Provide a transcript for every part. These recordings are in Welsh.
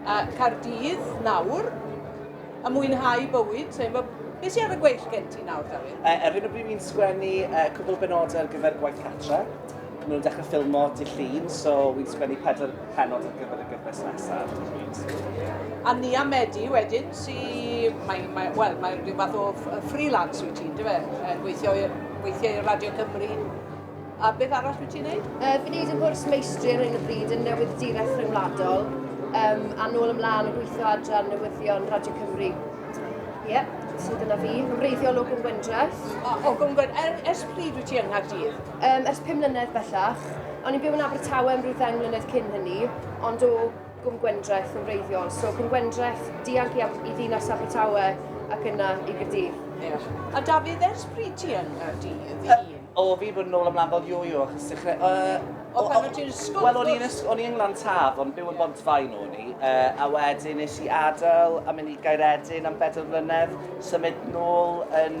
a Cardydd nawr a mwynhau bywyd. So, mae, beth sy'n ar y gweill gen ti nawr, Dafydd? Uh, ar hyn o bryd mi'n sgwennu uh, cwbl benodau ar gyfer gwaith catra. Mae nhw'n dechrau ffilmo dy llun, so wy'n sgwennu pedwar pennod ar gyfer y gyfres nesaf, dych chi'n A Nia Medi wedyn, sy... Mae, mae, wel, mae rhyw fath o freelance wyt ti'n, dyfe? Gweithio, weithiau i Radio Cymru. A beth arall wyt ti'n neud? Uh, fi'n neud yn gwrs meistri ar hyn o bryd yn newydd direth rhyngwladol, um, a nôl ymlaen yn gweithio adran newyddion Radio Cymru. Ie, yeah, so dyna fi. Wreiddiol o Gwmgwyndraeth. O, o Gwmgwyndraeth. Er, ers pryd wyt ti yng Nghaerdydd? Um, ers pum mlynedd bellach. O'n i'n byw yn Abertawe am rhyw ddeng mlynedd cyn hynny, ond o Gwm Gwendraeth yn wreiddiol. So Gwm Gwendraeth, dianc i, i ddinas Abertawe ac yna i Gyrdydd. Yeah. A Dafydd, ers pryd ti yn Gyrdydd? Uh, o, fi bod yn ôl am lafod yo yo, achos dechrau... Uh, o, pan o'n ti'n ysgol? Wel, o'n i'n ysgol, o'n i'n Glan Taf, ond byw yn Bontfaen o'n i. Uh, a wedyn nes i adael a mynd i Gairedyn am bedair mlynedd, symud nôl yn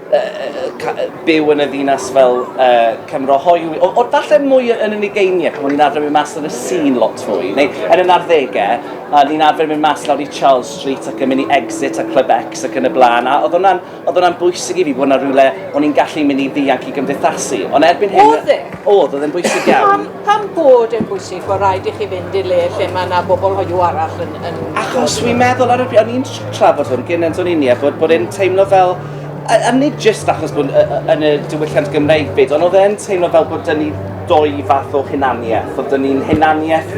byw yn y ddinas fel uh, Cymro hoyw, o, o falle mwy yn yn ugeiniau, pan o'n i'n arfer mynd mas yn y sîn lot fwy, neu yn y narddegau, a ni'n arfer mynd mas lawr i Charles Street ac yn mynd i Exit a Club X ac yn y blaen, a oedd hwnna'n, oedd hwnna'n bwysig i fi bod yna rhywle o'n i'n gallu mynd i ddianc i gymdeithasu. Ond erbyn hyn... Oedd e? Oedd, oedd e'n bwysig iawn. Pam, pam bod e'n bwysig bod rhaid i chi fynd i le lle mae yna bobl hoiw arall yn... yn Achos fi'n meddwl ar y pryd, o'n i'n trafod hwn gyn yn Doninia, bod, bod e'n teimlo fel A, a nid jyst achos bod yn y diwylliant Gymreig byd, ond oedd e'n teimlo fel bod dyn ni ddwy fath o hunaniaeth, oedd dyn ni'n hunaniaeth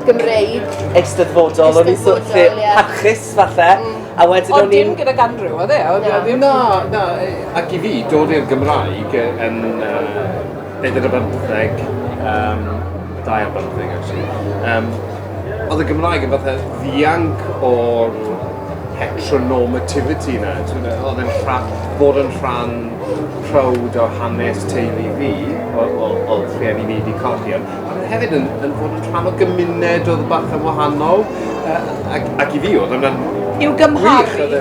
Gymreig. Eisteddfodol, o'n i'n sort lle parchus falle. Mm. A wedyn o'n i'n... Ond dim gyda Gandrew, oedd e? Oedd e ddim... Na, na, ac i fi, dod i'r Gymraeg yn... Uh, Beth oedd y bymtheg? Um, dau ar bymtheg, actually. Um, oedd y Gymraeg yn fatha ddianc o'r heteronormativity yna. Oedd e'n rhan, bod yn rhan prowd o hanes teulu fi, o rhieni ni wedi colli. Ond hefyd yn, yn bod yn rhan o gymuned oedd bach yn wahanol. Uh, ac, ac i fi oedd yna'n... I'w gymharu?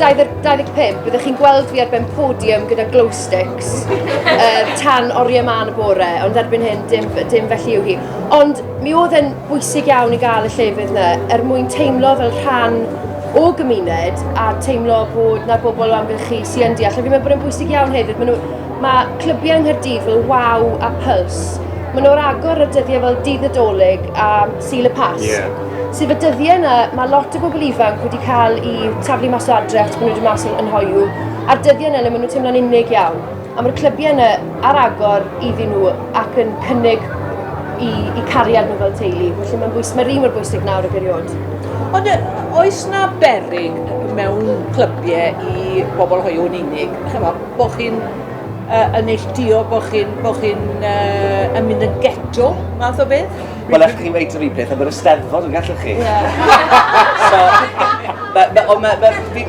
25, byddwch chi'n gweld fi ar ben podium gyda glow sticks uh, tan oriau man y bore, ond erbyn hyn dim, dim felly yw hi. Ond mi oedd yn bwysig iawn i gael y llefydd yna er mwyn teimlo fel rhan o gymuned a teimlo bod na bobl o amgylch chi sy'n yn deall. A fi'n meddwl bod yn bwysig iawn hefyd, mae, nhw, mae clybiau yng Nghyrdydd fel Wow a Pulse, maen nhw'r agor y dyddiau fel dydd y dolyg a Sul y Pas. Yeah. Sef y dyddiau yna, mae lot o bobl ifanc wedi cael i taflu mas o adre achos bod nhw wedi mas yn hoiw. A'r dyddiau yna le maen nhw'n teimlo'n unig iawn. A mae'r clybiau yna ar agor iddyn nhw ac yn cynnig i, i cariad nhw fel teulu. Felly mae'n bwys, mae rhi mor bwysig nawr y gyriod. Ond oes na berig mewn clybiau i bobl hoiw yn unig? Chyfo, bo chi'n uh, yn neilltuo, bo chi'n bo chi uh, yn mynd yn geto, math o beth? Wel, allwch chi weid yr un peth am yr ysteddfod yn gallwch chi? Ie. so, ond mae'n ma, fi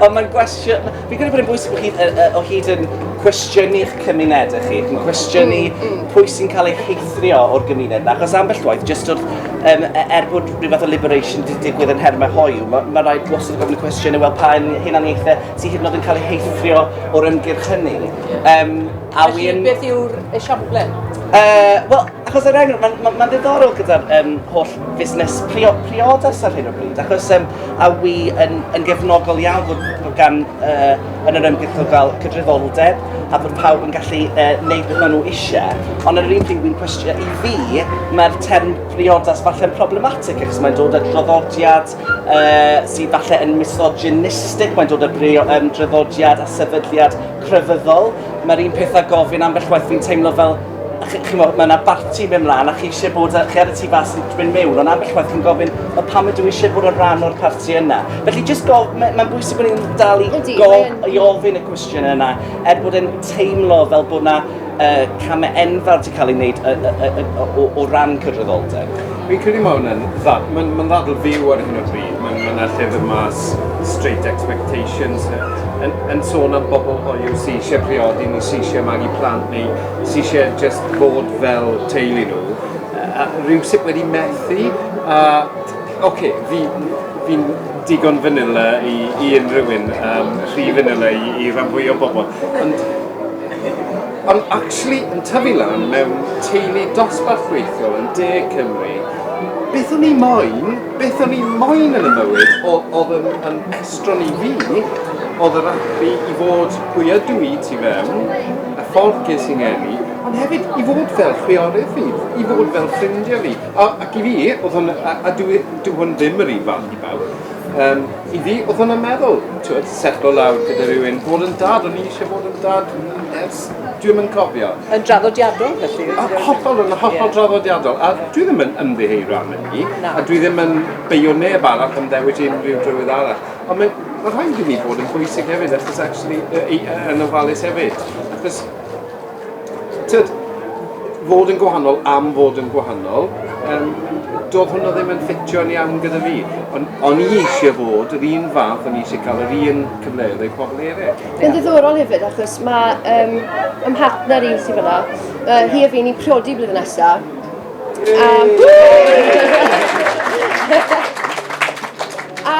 ond mae'n gwestiwn, fi'n credu bod yn bwysig bod chi o hyd yn cwestiynu eich cymunedau chi, yn cwestiynu mm, mm. pwy sy'n cael ei heithrio o'r gymuned na, achos ambell waith, jyst o'r, um, e, er bod rhyw fath o liberation di digwydd yn hermau hoiw, mae ma rhaid wastad gofyn y cwestiwn cwestiynau, wel pa hunaniaethau sy'n hyd yn oed yn cael ei heithrio o'r ymgyrch hynny. Um, A Felly, wi'n... beth yw'r esiample? Uh, Wel, achos er enghraifft, mae'n ma, ma ddiddorol gyda'r um, holl fusnes prio, priodas ar hyn o bryd, achos um, a wi yn, yn gefnogol iawn bod, bod gan uh, yn yr ymgyrchol fel cydryddoldeb a bod pawb yn gallu uh, neud beth maen nhw eisiau, ond ar yr un pryd wy'n cwestiwn i fi, mae'r term priodas falle'n problematic achos mae'n dod â droddodiad uh, sydd falle yn misogynistic, mae'n dod o greu o um, draddodiad a sefydliad crefyddol. Mae'r un peth a gofyn ambell waith fi'n teimlo fel chi mo, mae yna barti mewn mlaen a chi eisiau bod, chi ar y tu fas yn dwi'n mewn, ond ambell waith chi'n gofyn, o pam ydw i eisiau bod yn rhan o'r parti yna? Felly, just go, mae'n ma bwysig bod ni'n dal i, go, i ofyn y cwestiwn yna, er bod e'n teimlo fel bod yna y camau enfawr sy'n cael ei wneud y, y, y, y, o, o ran cydraddoldeb. Fi'n credu mae hwnna'n ddad, mae'n ma ddadl fyw ar hyn o bryd. Mae'n ma yna llyfr mas Straight Expectations yn, yn sôn am bobl hoiw sy'n eisiau priodi neu sy'n eisiau magu plant neu sy'n eisiau just bod fel teulu nhw. A rhyw sut wedi methu. A, oce, okay, fi, fi'n digon fanila i, i unrhyw un, um, rhy fanila i, i rhan fwy o bobl. Ond Ond actually yn tyfu lan mewn teulu dosbarthreithiol yn De Cymru, beth o'n i moyn, beth o'n i moyn yn y mywyd o- oedd yn yn estron i fi oedd yr ati i fod pwy ydw i tu fewn, y ffordd ges i 'ngeni, ond hefyd i fod fel chwiorydd fi, i fod fel ffrindiau fi. A ac i fi, oedd hwn... a a dyw e... dyw hwn ddim yr un fath i bawb yym. I fi, oedd hwnna'n meddwl, twyd, setlo lawr gyda rhywun, bod yn dad, o'n i eisiau bod yn dad ers Dwi'n mynd cofio. Yn draddodiadol, felly? A, hollol, yn hollol yeah. draddodiadol. A dwi ddim yn ymddiheuro am hynny. No. A dwi ddim yn beio neb arall am ddewis unrhyw drywydd arall. Ond mae ma rhaid i ni bod yn bwysig hefyd, achos actually, yn ofalus hefyd. Achos Tyd, fod yn gwahanol am fod yn gwahanol, um, doedd hwnna ddim yn ffitio'n iawn gyda fi. Ond on i eisiau bod yr un fath, o'n i eisiau cael yr un cyfleoedd ei pobl eraill. Yn ddiddorol hefyd, achos mae um, ym mhartner i sy'n fyna, uh, hi a fi ni'n priodi blwyddyn nesaf. Um, a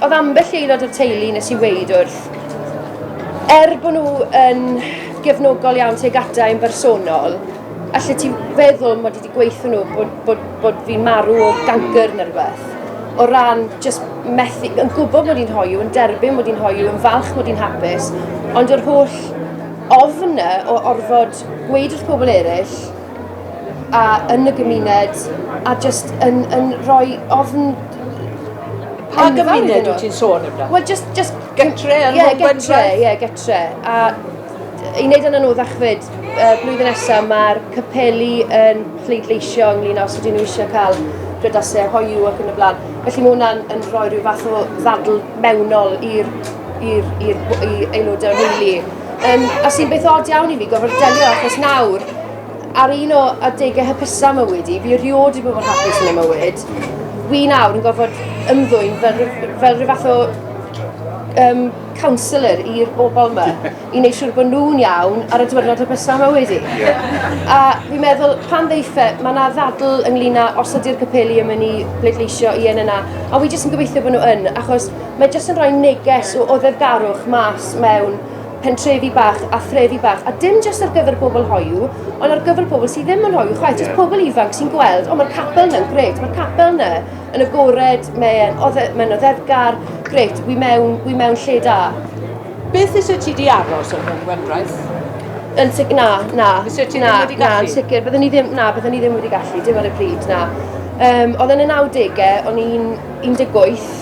Oedd ambell aelod o'r teulu nes i weid wrth, er bod nhw yn gefnogol iawn tuag ata i'n bersonol, allet ti feddwl mod i wedi gweithio nhw bod, bod, bod fi'n marw o gancr neu rhywbeth? O ran just methu, yn gwybod mod i'n hoiw, yn derbyn mod i'n hoiw, yn falch mod i'n hapus, ond yr holl ofn o orfod gweud wrth pobl eraill a yn y gymuned a jyst yn, yn rhoi ofn Pa gymuned wyt ti'n sôn amdano? Wel, just, just... Gytre yn yeah, gytre, ie, yeah, gytre. A i wneud yn anoddach fyd, uh, blwyddyn nesaf mae'r capeli yn pleidleisio ynglyn os ydyn nhw eisiau cael prydasau hoiw ac yn y blaen. Felly mae hwnna'n yn rhoi rhyw fath o ddadl mewnol i'r aelodau o'r rheili. Um, a sy'n beth od iawn i mi gofod delio achos nawr, ar un o adegau hypusau mywyd i, fi rioed i bobl hapus yn y mywyd, fi nawr yn gofod ymddwyn fel, fel rhyw fath o um, counsellor i'r bobl yma i wneud siŵr bod nhw'n iawn ar y diwrnod hypusau mywyd i. A fi'n meddwl, pan ddeife, mae yna ddadl ynglyn â os ydy'r capeli yn mynd i bleidleisio i yn yna, a fi jyst yn gobeithio bod nhw yn, achos Mae jyst yn rhoi neges o oddefgarwch mas mewn pentrefi bach a threfi bach, a dim jyst ar gyfer bobl hoiw, ond ar gyfer pobl sydd ddim yn hoiw chwaith, jyst pobl ifanc sy'n gweld, o mae'r capel yna'n gret, mae'r capel yna yn agored, mae'n mae oddefgar, gret, wy mewn, wy mewn lle da. Beth fysa ti di aros yn hwn, Wendraeth? Yn sicr, na, na. Fysa ti ddim wedi gallu? Na, yn sicr, byddwn ni ddim, na, byddwn ni ddim wedi gallu, dim ar y pryd, na. Um, oedd yn y 90au, o'n i'n 18,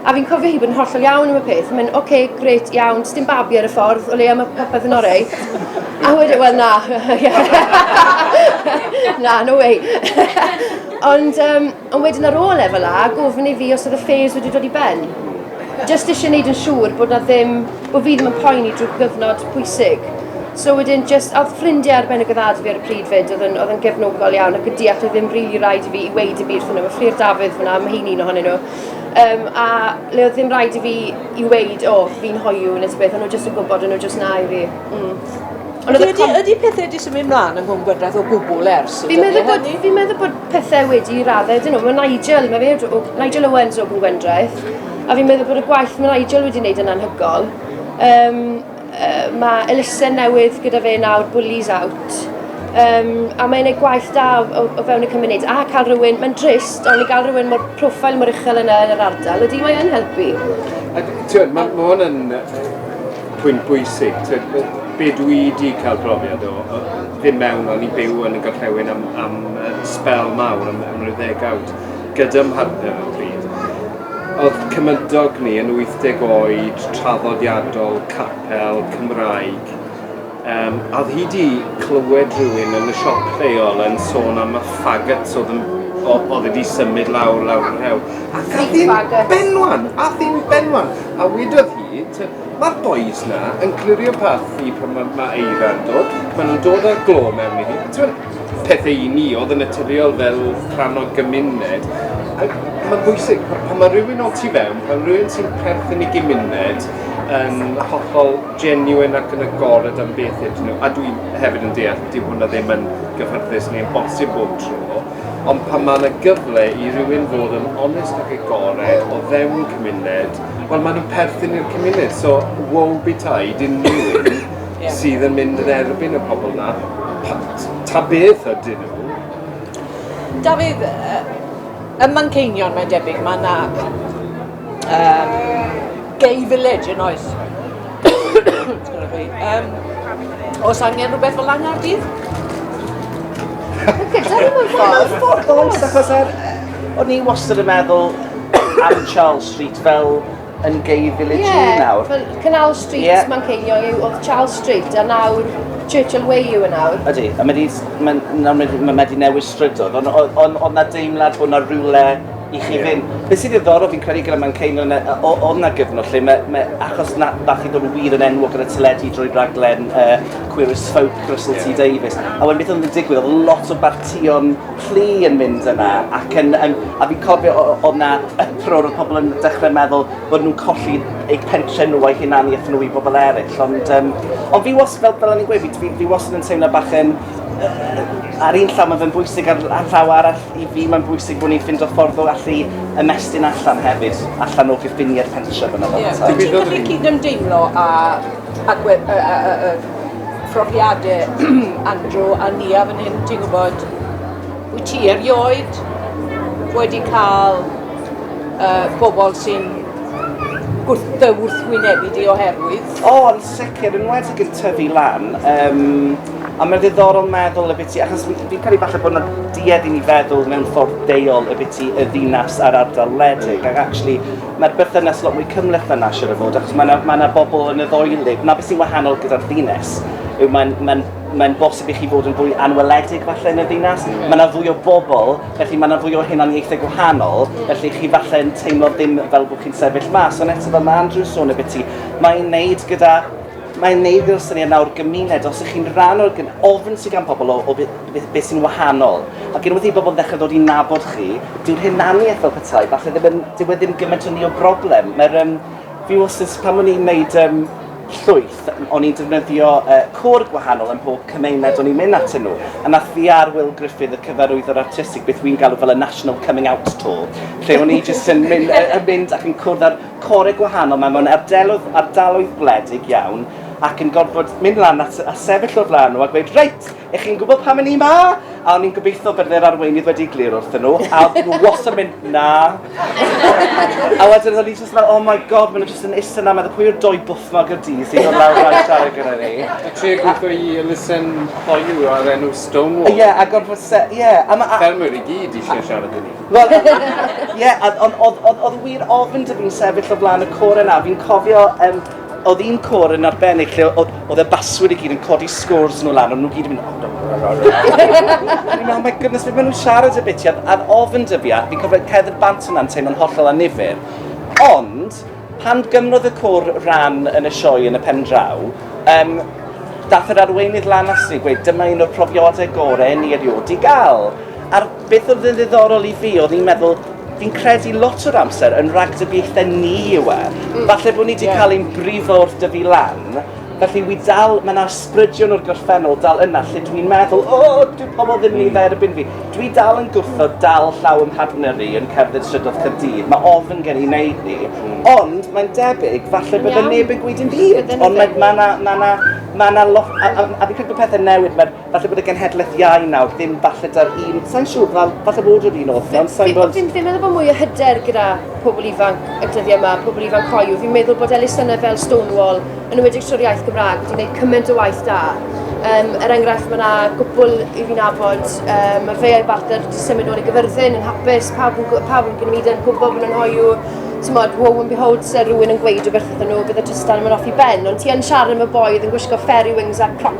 A fi'n cofio hi bod yn hollol iawn am y peth. Mae'n, oce, okay, gret, iawn, jyst dim babi ar y ffordd, o leia mae popeth yn orau. A wedyn, wel na, na, no way. ond, um, ond wedyn ar ôl e fel a, gofyn i fi os oedd y ffeis wedi dod i ben. Just eisiau gwneud yn siŵr bod na ddim, bod fi ddim yn poen i drwy gyfnod pwysig. So wedyn, just, oedd ffrindiau ar ben y gyddad fi ar y pryd fyd, oedd yn, oedd yn gefnogol iawn ac yn deall oedd ddim rili really rhaid i fi i weid y byd wrthyn nhw. Mae Fflir Dafydd fyna, mae hi'n un ohonyn nhw. Um, a le oedd ddim rhaid i fi i weid, o, oh, fi'n hoiw nes beth, ond nhw jyst yn gwybod, ond nhw jyst na i fi. Mm. Ond ydy, com... ydy pethau wedi symud mlaen yng Nghwm Gwydraeth o gwbl ers? Fi'n meddwl, bod, fi meddwl bod pethau wedi i raddau, dyn nhw, mae Nigel, mae fe, o, Nigel Owens o Gwm Gwendraeth, a fi'n meddwl bod y gwaith mae Nigel wedi wneud yn anhygol. Um, Uh, mae elusen newydd gyda fe nawr, Bullies Out. Um, a mae'n ei gwaith da o, o fewn y cymuned. A cael rhywun, mae'n drist, ond i gael rhywun mor profil mor uchel yna yn yr ardal, ydy mae'n helpu. A ti'n, mae ma hwn yn pwynt bwysig. Ti'n, be dwi wedi cael profiad o, o ddim mewn o'n i byw yn y gorllewin am, am uh, spel mawr, am, am ryw ddegawd, gyda mhartner o pryd. Oedd cymydog ni yn 80 oed traddodiadol capel Cymraeg yym a oedd hi 'di clywed rhywun yn y siop lleol yn sôn am y faggots oedd yn o- oedd wedi symud lawr lawr y rhewl ac ath hi'n benwan! Ath hi'n benwan! A wedodd hi t- ma'r bois 'na yn clirio parth fi pan ma' ma' eira'n dod ma' nhw'n dod â'r glo mewn i fi t'mod? pethau i ni oedd yn naturiol fel rhan o'r gymuned. Ac mae'n bwysig, pan mae rhywun o tu fewn, pan mae rhywun sy'n perthyn i gymuned yn hollol genuine ac yn agored am beth ydyn nhw, a dwi hefyd yn deall, dyw hwnna ddim yn gyffyrddus neu'n bosib bob tro, ond pan mae yna gyfle i rywun fod yn onest ac agored o fewn cymuned, wel maen nhw'n perthyn i'r cymuned, so woe betide unrhyw un yeah. sydd yn mynd yn erbyn y pobl na. Ta beth ydyn nhw? Dafydd, y Manceinion mae'n debyg, mae yna um, gay village yn oes. um, os angen rhywbeth fel yna ar dydd? Dwi'n ffordd, achos er, o'n i wastad yn meddwl am Charles Street fel yn gay village yeah, nawr. Fel Canal Street, yeah. mae'n ceilio yw, oedd Charles Street, a nawr Churchill Way yw yn e nawr. Ydy, a mae wedi ma, newid strydoedd, ond on, on, on na deimlad bod na rhywle i chi yeah. fynd. Be sydd ddiddorol fi'n credu gyda mae'n ceilio yna, o na gyfnod lle mae, mae achos na, bach i ddod yn wir yn enwog gyda teledu drwy raglen uh, Queer as Folk, Russell yeah. T Davies. A wedyn beth oedd yn digwydd, oedd lot o bartion plu yn mynd yna ac yn yn a fi'n cofio o- o- o'dd 'na uproar o'dd pobol yn dechre meddwl bod nw'n colli eu pentre nhw o'u hunanieth nhw i bobol eryll ond yym ond fi was- fel fel o'n i'n gweud fi dwi fi wastad yn teimlo bach yn yy ar un llaw ma' fe'n bwysig ar ar llaw arall i fi mae'n bwysig bo' ni'n ffindo ffordd o allu ymestyn allan hefyd allan o gyffiniau'r pentre fyn 'na fel petai. Ie. Wyt ti'n gallu cydymdeimlo â Ac we- y, y, y, y profiadau Andrew a Nia fan hyn, ti'n gwybod, wyt ti erioed wedi cael uh, bobl sy'n gwrtho wrthwynebu di oherwydd? O, oh, yn sicr, yn wedi yn tyfu lan. Um, a mae'n ddiddorol meddwl y biti, achos fi'n cael ei falle bod yna duedd i ni feddwl mewn ffordd deiol y biti y ddinas a'r ardal wledig, ac actually Mae'r berthynas lot mwy cymhleth na na siŵr o fod, achos mae yna ma yna bobl yn y ddoelib. Na beth sy'n wahanol gyda'r ddinas yw mae'n ma ma bosib i chi fod yn fwy anweledig falle yn y ddinas. Mae yna fwy o bobl, felly mae yna fwy o hunaniaethau gwahanol, felly chi falle yn teimlo ddim fel bod chi'n sefyll mas. Ond eto fel mae Andrew sôn y byti, mae'n wneud gyda Mae'n neud i'r syniad nawr gymuned, os ych chi'n rhan o'r gyn... ofn sydd gan pobl o, o beth, beth sy'n wahanol. Ac unwaith i bobl ddechrau dod i nabod chi, dyw'r hunaniaeth fel petai, falle ddim yn, dyw e ddim gymaint o ni o broblem. Mae'r, um, fi wastad, pan o'n i'n neud um, llwyth, o'n i'n defnyddio uh, cwr gwahanol yn pob cymuned o'n i'n mynd atyn nhw. A nath fi ar Will Griffith, y cyfarwyddwr artistig, beth wy'n galw fel y National Coming Out Tour, lle o'n i jyst yn mynd, yn mynd ac yn cwrdd ar Corau gwahanol, mae mewn ardaloedd, ardaloedd gwledig iawn, ac yn gorfod mynd lan at, a sefyll o'r flaen nhw a gweud, reit, ych chi'n gwybod pam yn ni ma? A o'n i'n gobeithio bydde'r arweinydd wedi glir wrth nhw, a oedd nhw was yn mynd, na. a wedyn o'n i jyst fel, oh my god, maen nhw jyst yn isen na, meddwl pwy yw'r doi bwthnog y di sy'n dod lawr rhaid siarad gyda ni. A tri gweithio i elusen hoyw ar enw Stonewall. Ie, yeah, a gorfod se, ie. Yeah, a ma... Ffermwyr i gyd eisiau siarad i ni. Wel, ie, yeah, ond oedd wir ofyn dwi fi'n sefyll o flaen y cor yna. Fi'n cofio, um, oedd un cor yn arbennig lle oedd y baswyr i gyd yn codi scores nhw lan, ond nhw gyd yn mynd... Oh, Fi'n meddwl, my goodness, fe maen nhw'n siarad y bitiad, a'r ofyn dwi fi, a fi'n cofio cedr bant yna'n teimlo'n hollol anifur. Ond, pan gymrodd y cwr ran yn y sioe yn y pen draw, um, dath yr arweinydd lan at ni gweud, dyma un o'r profiadau gorau ni erioed i gael. A'r Beth oedd yn ddiddorol i fi oedd i'n meddwl, fi'n credu lot o'r amser yn ragdybiaethau ni yw e. Mm. Falle bod ni wedi yeah. cael ein brifo wrth dyfu lan, felly wi dal, mae yna ysbrydion o'r gorffennol dal yna lle dwi'n meddwl, o, oh, dwi pobl ddim yn ei dderbyn fi. Dwi dal yn gwrthod dal llaw yn partner i yn cerdded strydodd Cyrdydd, mae ofn gen i wneud ni. Mm. Ond mae'n debyg, falle bydde neb yn gweud yn hyd, ond mae yna ma ma ma ma lot, a, a, a fi'n credu bod pethau'n newid, mae'r Falle bod y genhedlaeth iau nawr, ddim falle da'r un, sa'n siŵr, fel, falle bod yr un oedd yna, ond sa'n bod... Fi'n fi meddwl bod mwy o hyder gyda pobl ifanc y dyddiau yma, pobl ifanc coiw. Fi'n meddwl bod elusennau fel Stonewall, yn ymwedig trwy'r iaith Gymraeg, wedi gwneud cymaint o waith da. Um, er enghraifft, mae yna gwbl i fi'n abod, um, mae Feiau Barter wedi symud ôl i gyfyrddin yn hapus, pawb yn, pawb yn gwneud yn gwybod bod nhw'n hoiw, ti'n modd, wow and behold, sy'n rhywun yn gweud o beth ydyn nhw, bydd y trystan yn mynd off i ben, ond ti yn siarad am y boedd yn gwisgo fairy wings a crop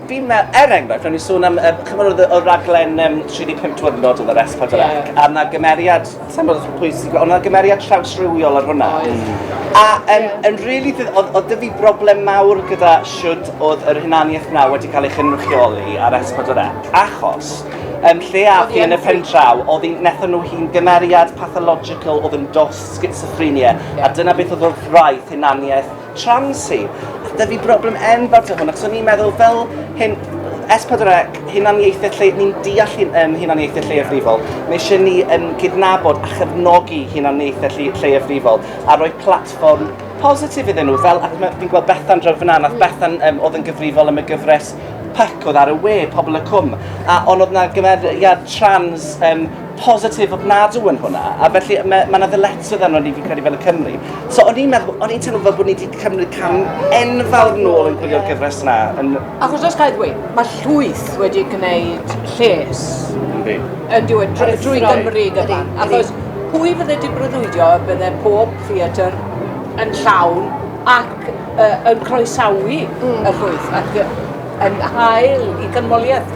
Fi'n, er enghraifft, o'n i'n sôn am, yy, chimod oedd y, y raglen um, 35 diwrnod oedd yr Esbad yr Ac, a na gymeriad, sa'n bod oedd pwy sy'n gweld, ond na gymeriad trawsrywiol ar hwnna. A um, yn really, oedd, oedd dy fi broblem mawr gyda siwd oedd yr hunaniaeth na wedi cael ei chynrychioli ar Esbad yr Ac, achos um, lle a fi yn y pen draw, oedd hi'n netho nhw hi'n gymeriad pathological oedd yn dos schizophrenia, a dyna beth oedd wrth wraith hunaniaeth trans hi. A dyfu broblem enfawr to hwn, ac so ni'n meddwl fel hyn, S4C, hunaniaethau lle, ni'n deall hyn, um, hunaniaethau lleiafrifol. Mae eisiau ni yn gydnabod a chefnogi hunaniaethau lle, lleiafrifol a rhoi platfform positif iddyn nhw. Fel, ac fi'n gweld Bethan draw fyna, nath Bethan um, oedd yn gyfrifol am y gyfres pyc oedd ar y we, Pobl y Cwm, a ond oedd yna gymeriad trans um, positif ofnadw yn hwnna, a felly mae yna ddyletswydd arno ni fi'n credu fel y Cymru. So o'n i'n meddwl, o'n i'n teimlo fel bod ni wedi cymryd cam enfawr nôl yn gwylio'r gyfres yna. Yn... Achos os gael ddweud, mae llwyth wedi gwneud lles yn diwedd drwy Gymru gyda. Achos pwy fydde di brydwydio bydde pob theatr yn llawn ac uh, yn croesawu mm. y llwyth ac yn hael i gymoliaeth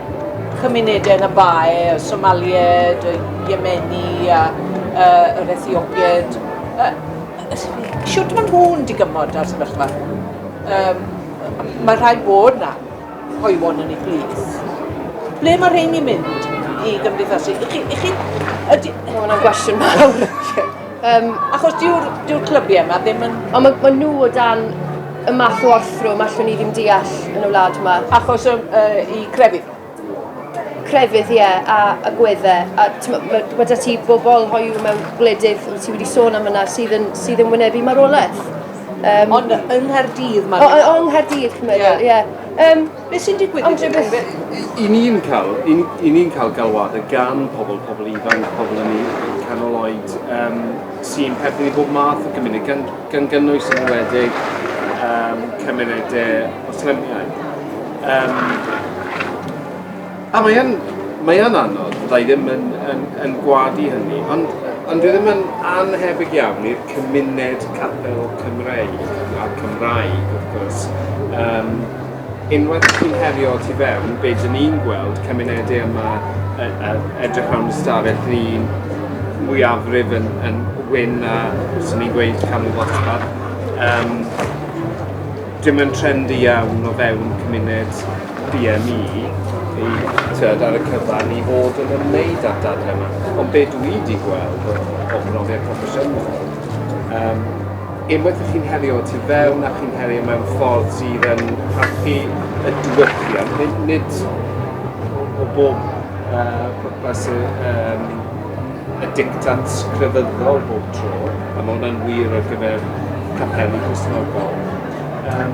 Cymunedau yn y Bae, y Somaliaid, y Iemeni a uh, yr Ethiopiaid. Uh, siwt maen nhw'n digymod ar sefyllfa. Um, mae rhai bod na hoiwon yn ei plith. Ble mae rheini'n mynd i gymdeithasu? I chi, i chi, ydy... Mae hwnna'n gwestiwn mawr. Um, achos dyw'r dyw clybiau yma ddim yn... Ond maen ma nhw o dan y math o orthrwm allwn ni ddim deall yn y wlad yma. Achos um, uh, i crefydd? Crefydd, ie, yeah, a, a gweddau. A mae ma da ti bobl hoiw mewn gwledydd, ti wedi sôn am yna, sydd yn, sydd yn wynebu marwolaeth. Um, Ond yng Nghaerdydd mae'n... O, yng Nghaerdydd, cymryd, ie. Yeah. Yeah. Um, Beth sy'n digwydd i ti? I ni'n cael, i, i ni'n cael galwadau gan pobl, pobl ifanc, pobl yn ei canol oed, um, sy'n perthyn i bob math o gymuned, gan, gan gynnwys yn wedig um, cymunedau Muslimau. Um, A mae yn, mae yn anodd, fydda i ddim yn, yn, yn gwadu hynny, ond, ond dwi ddim yn anhebyg iawn i'r cymuned capel Cymreig a'r Cymraeg, wrth gwrs. Um, unwaith chi'n herio tu fewn, be dyn ni'n gweld cymunedau yma e, e, edrych rhan y stafell ni'n mwyafrif yn, yn wyn a sy'n ni'n gweud canol ddosbarth. Um, dim yn trendy iawn o fewn cymuned BME i, tibod, ar y cyfan i fod yn ymwneud â'r dadle yma. Ond be dwi wedi gweld o, o brofiad proffesiynol, um, unwaith ydych chi'n herio tu fewn a chi'n herio mewn ffordd sydd yn parchu y diwylliant, nid, nid o bob uh, pwrpas y, um, y dictat crefyddol bob tro, a mae hwnna'n wir ar gyfer capeli Cristnogol. Um,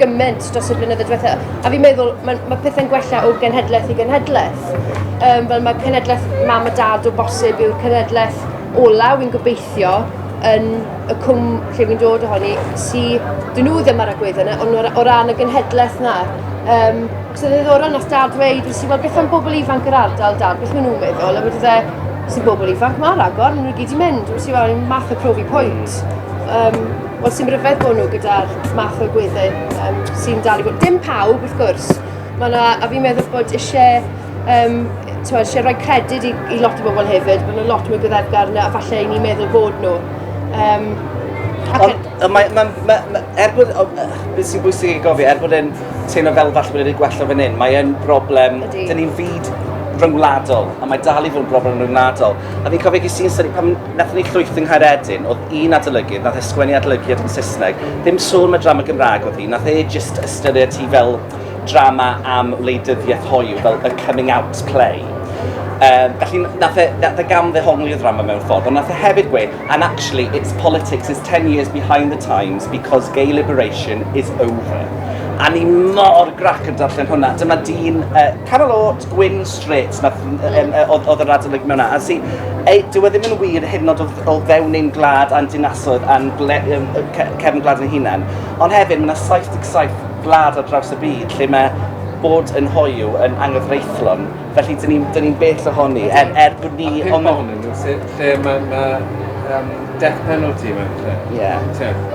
gymaint dros y blynyddoedd diwetha. A fi'n meddwl, mae, mae pethau'n gwella o genhedlaeth i genhedlaeth. Um, fel mae cenhedlaeth mam a dad o bosib yw'r cenhedlaeth ola, wy'n gobeithio, yn y cwm lle fi'n dod ohoni, si dyn nhw ddim ar y gwedd yna, ond o ran y genhedlaeth na. Um, so dde ddorol nath dad dweud, nes i weld beth am bobl ifanc yr ardal, dad, beth maen nhw'n meddwl, a wedi dde, sy'n bobl ifanc, mae'r agor, maen nhw'n gyd i mynd, nes i weld math o profi pwynt. Um, Wel, sy'n ryfedd bod nhw gyda'r math o gwedden um, sy'n dal i fod. Dim pawb, wrth gwrs. Mae yna, a fi'n meddwl bod eisiau, um, tywed, eisiau rhoi credyd i, i lot o bobl hefyd. Mae yna lot mwy gyddefgar yna, falle i ni'n meddwl bod nhw. Um, Ond, mae, mae, mae, mae, er bod, beth sy'n bwysig i gofio, er bod e'n teimlo fel falle bod e'n gwella fan hyn, mae e'n broblem, dyn ni'n fyd rhyngwladol, a mae dal i fod yn broblem rhyngwladol. A fi'n cofio ges i'n syni, pan Nathon ni llwyth yng Nghaeredin, o'dd un adolygydd, nath e sgwennu adolygiad yn Saesneg, ddim sôn am y drama Gymraeg o'dd hi, nath e jyst ystyried hi fel drama am wleidyddiaeth hoyw, fel a coming out play. Um, felly nath e, nath e gam ddehongli y ddrama mewn ffordd, ond nath e hefyd gweud, and actually its politics is 10 years behind the times because gay liberation is over. A ni mor grac yn darllen hwnna. Dyma dyn uh, canol oed, gwyn, Grêt, ma' ff- n- yym yy o'dd o'dd y radolyg mewn a- a sy ei- dyw e ddim yn wir hyd yn o'd o f- o fewn ein gwlad a'n dinasoedd a'n gwle- yym yy ce- cefn gwlad ein hunan ond hefyd ma' 'na 77 gwlad ar draws y byd lle ma' bod yn hoyw yn anghyfreithlon felly 'dyn ni'n 'dyn ni'n bell ohoni er er bod ni... A pump on- ohonyn nhw sy- lle ma' ma' yym death penalty mewn lle. Ie. T'wod?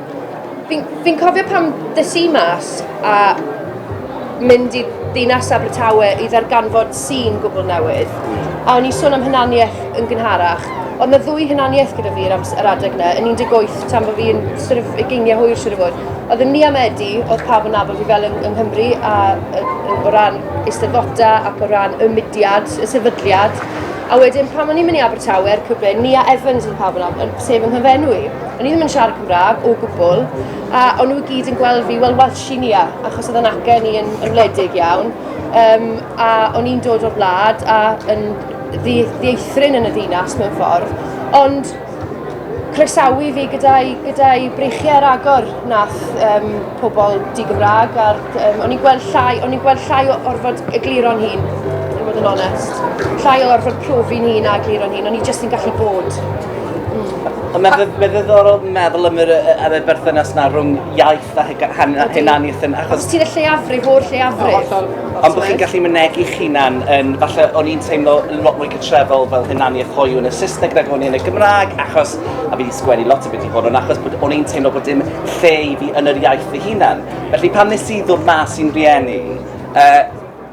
Fi'n fi cofio pam dys i mas a mynd i ddinas Abertawe i ddarganfod sîn gwbl newydd. A o'n i'n sôn am hunaniaeth yn gynharach. Oedd na ddwy hunaniaeth gyda fi yr, ams- yr adeg na, yn 18 tan bod fi'n sort of ugeiniau hwyr siŵr o fod. Oedd yn Liam Eddy, oedd pawb yn nabod fi fel yng, yng Nghymru, a, a, o ran eisteddfota ac o ran y mudiad, y sefydliad. A wedyn pan o'n i'n mynd i Abertawe a'r cyfle, Nia Evans oedd pawb yn nabod, sef yng nghyfenw i. O'n i ddim yn siarad Cymraeg o gwbl, a o'n nhw i gyd yn gweld fi, wel Welsh i ni a, achos oedd yn acen i yn, yn wledig iawn, um, a o'n i'n dod o'r wlad a yn ddieithrin yn y ddinas mewn ffordd, ond croesawu fi gyda'i gyda breichiau ar agor nath um, pobl di-Gymraeg, a um, o'n i'n gweld llai, o'n i'n gweld llai o orfod egluro'n hun, i fod yn onest. Llai o orfod profi'n hun a egluro'n hun, o'n i jyst yn gallu bod. Ond mae'n mae ddiddorol meddwl am yr, am y berthynas na rhwng iaith a hunaniaeth yn... Achos... Os ti'n y lleiafrif o'r lleiafrif. Ond bod chi'n gallu mynegu hunan yn... Falle o'n i'n teimlo lot mwy cytrefol fel hunaniaeth hoiw yn y Saesneg nag o'n i yn y Gymraeg, achos... A fi wedi sgwennu lot o beth i hwn, ond achos bod o'n i'n teimlo bod dim lle i fi yn yr iaith fy hunan. Felly pan nes i ddod mas i'n rhieni, uh,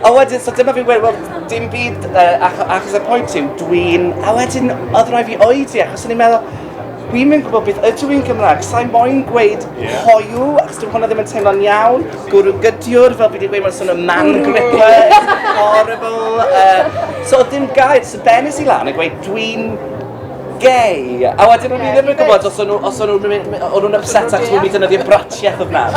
A wedyn, so dyma fi'n gweud, wel, dim byd, uh, ach achos y pwynt yw, dwi'n... A wedyn, oedd rhaid fi oedi, achos o'n i'n meddwl, Wi'n mynd gwybod beth ydw i'n Gymraeg, sa'n moyn gweud yeah. hoiw, achos dwi'n hwnna ddim yn teimlo'n iawn, gwrw gydiwr, fel fi wedi gweud, mae'n swnio man gripper, horrible. Uh, so ddim gair, so benes i lan a gweud dwi'n gay. A wedyn o'n i ddim yn gwybod os o'n nhw, os o'n nhw'n mynd, o'n nhw'n upset achos bod nhw'n mynd defnyddio bratiaeth o fnaf.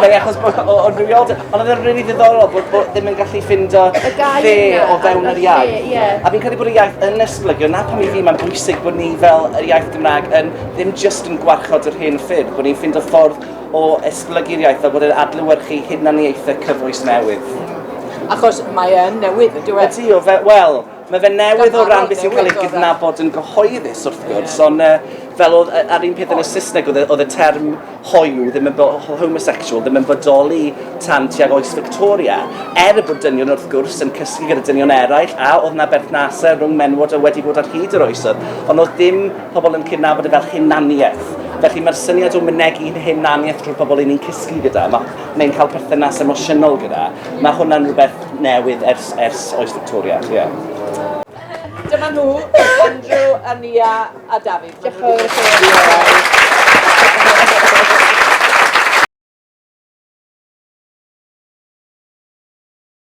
Neu achos bod o rhywiol. Ond oedd e'n rili ddiddorol bod, bod ddim yn gallu ffindo lle o fewn yr iaith. A fi'n credu bod y iaith yn esblygio, na pam i fi mae'n bwysig bod ni fel yr iaith Gymraeg yn ddim just yn gwarchod yr hen ffyrdd, bod ni'n ffindo ffordd o esblygu'r iaith a bod e'n adlywyrchu hunaniaethau cyfoes newydd. Achos mae e'n newydd, yn dyw e? Ydy o, wel, Mae fe newydd o ran beth sy'n cael ei gydnabod yn gyhoeddus wrth gwrs, ond uh, fel oedd, ar un peth yn y Saesneg oedd, oedd y term hoyw, ddim yn homosexual, ddim yn bodoli tan tuag oes Victoria, er y bod dynion wrth gwrs yn cysgu gyda dynion eraill, a oedd yna berthnasau rhwng menwod a wedi bod ar hyd yr oesoedd, ond oedd dim pobl yn cydnabod y fel hunaniaeth. Felly mae'r syniad o mynegu'n hunaniaeth drwy'r pobl yn ni'n cysgu gyda, mae'n cael perthynas emosiynol gyda, mae hwnna'n rhywbeth newydd ers, ers oes Victoria, ie. Yeah. Dyma nhw, Andrew, Ania a David. Diolch